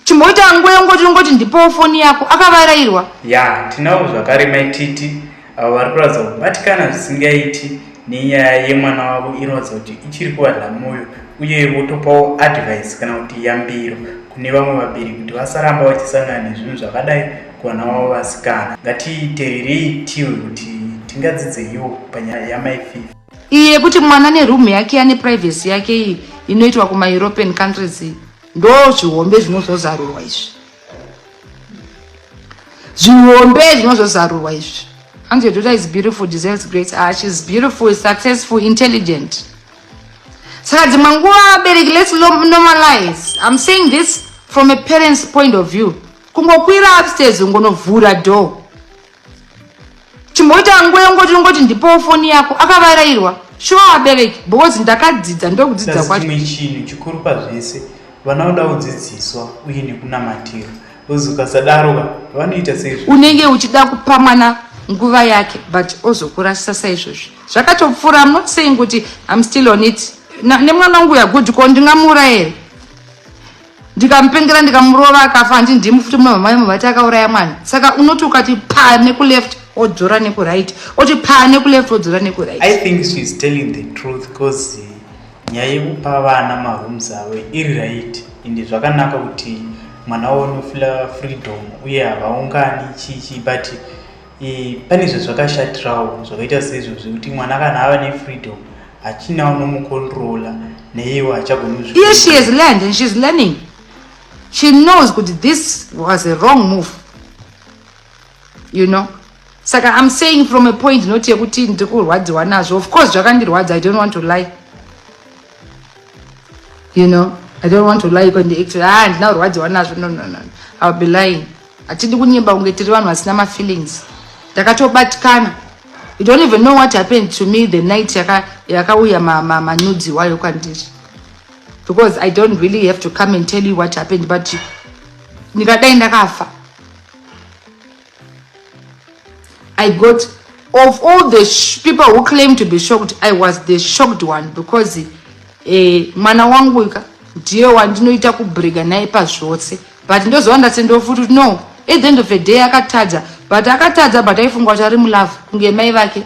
chimboita nguva yongoti ungoti ndipowo foni yako akavarairwa ya tinawo zvakare maititi avo vari kuratidza kubatikana zvisingaiti nenyaya yemwana wavo inoratidza kuti ichiri kuvanha mwoyo uye votopawo advice kana kuti yambiro kune vamwe vabereki kuti vasaramba vachisangana nezvinhu zvakadai kuvana wavo vasikana ngatiteerei tiwe kuti tingadzidzeiwo panyaya yamaififa iyi yekuti mwana nerumu yake ane privacy yake iyi inoitwa kumaeuropean countries iyi ndozvihombe zvinozozarurwa izvi zvihombe zvinozozarurwa izvi and your daughter is beautiful deserves great ah, she's beautiful successful intelligent saka dzimwe nguva vabereki let's normalize i'm saying this from a parent's point of view kungokwira upstairs ungonovhura door chimboita nguva yongoti ongoti ndipowo foni yako akavarairwa shuwa vabereki because ndakadzidza ndokudzidza kwachimwe chinhu chikuru pazvese vana voda kudzidziswa uye nekunamatira ozi ukasadaroka vanoita sei unenge uchida kupa mwana nguva yake but ozokurasisa saizvozvi zvakatopfuura am not saying kuti am still on it nemwana wangu yagood ko ndingamuurayere ndikamupengera ndikamurova akafa handi ndimu futi muna mama vemu vati akauraya mwana saka unoti ukati paa nekuleft odzora nekuright oti paa nekuleft odzora nekuright i think she is telling the truth bcause nyaya yekupa vana marooms avo iri right ende zvakanaka kuti mwana wavo unofila freedom uye havaungani chichi but e, pane zvazvakashatirawo zvakaita seizvo zvekuti mwana kana ava nefreedom hachina unomukontrola neiwo hachagoni iye she has learned and she's learning she knows kuti this was a wrong move you know saka i'm saying from a point not yekuti ndiri kurwadziwa nazvo of course zvakandirwadza i don't want to lie you know i don't want to lie kwandiact ah ndina kurwadziwa nazvo no no no iwill be lying hatidi kunyeba kunge tiri vanhu vasina mafeelings ndakatobatikana you don't even know what happened to me the night yakauya manudzi wayo kwandiri because i don't really have to come and tell you what happened but ndikadai ndakafa i got of all the people who claim to be shocked i was the shocked one because eh, mwana wangu ka ndiye wandinoita kubrega naye pazvose but ndozowa ndatsendewo futi kuti no at the end of the day akatadza but akatadza but aifunga kuti ari mulove kunge mai vake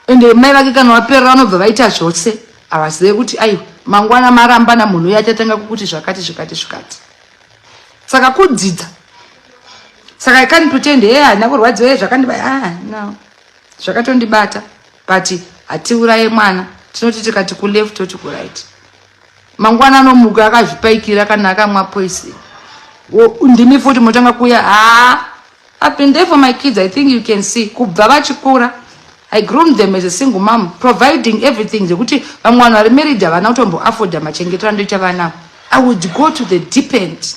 ende mai vake kana vaperera vanobva vaita zvose havazive kuti aiwa mangwana marambana munhu uye achatanga kukuti zvakati zvikati zvikati saka kudzidza saka i can't pretend e handina kurwadziwa e zvakandiba ah, no zvakatondibata but hatiuraye mwana tinoti tikati kuleft toti kuright mangwana anomuka akazvipaikira kana akamwa poison ndimi futi motanga kuya haa I've been there for my kids. I think you can see. Kubva vachikura. I groomed them as a single mom, providing everything. Zvekuti vamwe vanhu vari married havana kutombo afforda machengeterano echavanavo. I would go to the deep end.